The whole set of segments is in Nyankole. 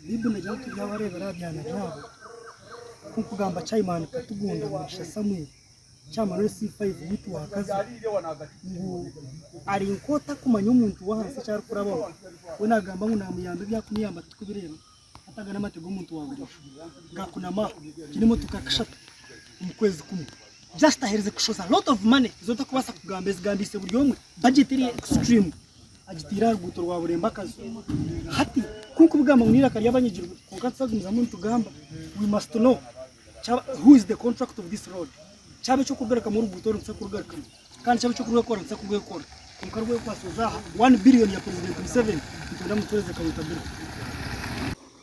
Baiburi negira ngu tibyabareebera aha byana byabo. Nk'okugamba Chaimani Katugunda Mugisha Samuel, Chairman wa SC5 Youth Workers, ngu ari nk'otakumanya omuntu w'ahansi eki arikurabaho. We naagamba ngu naamuyamba ebi arikumuyamba tirikubireeba hati aga n'amate g'omuntu wa burijo gaakunamaho. Egi n'emotoka ya kashatu omu kwezi kumwe just aherize kushoza lot of money ezi otakubaasa kugamba ezigambiise buri omwe. Budget eri extreme. Agitaire aha ruguuto rwa Burembo-Akazo. Hati, ku nkubigamba ngu n'eiraka ry'abanyagirwa, kwonka nituzagumizamu nitugamba, we must know kyaba who is the contractor of this road. Kyaba eky'okurugarikamu oruguuto oru nituza kurugarikamu, kandi kyaba eky'okurwekora nituza kurwekora. Kwonka rwekwatsize aha one billion ya President Museveni, nitwenda mutuheereze countabirity.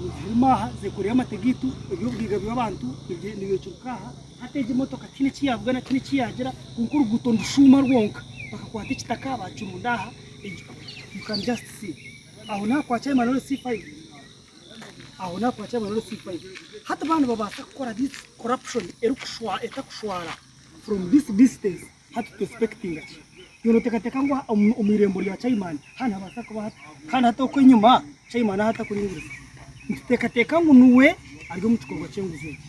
Nizirima aha zekoreire amate gaitu ebyobugaiga byabantu nibicuruka aha hati egi emotoka tihaine ekiyavuga na tihaine ekiyagira kwonka oruguuto nirushuuma rwonka bakakwata ekitaka bakirunda aha you can just see aho naha kwa chairman wa LC5 aho naha kwa chairman wa LC5 hati ba nibabaasa kukora this corruption erikushwa etakushwara from this distance Hati tuexpectinga ki? Yoona oteekateeka ngu omu irembo rya Caiman hanu nihabaasa kuba hati kandi hati oku enyima Caiman ahu atakuringiriza? Nituteekateeka ngu niwe ari omu kikorwa ky'enguzi eki.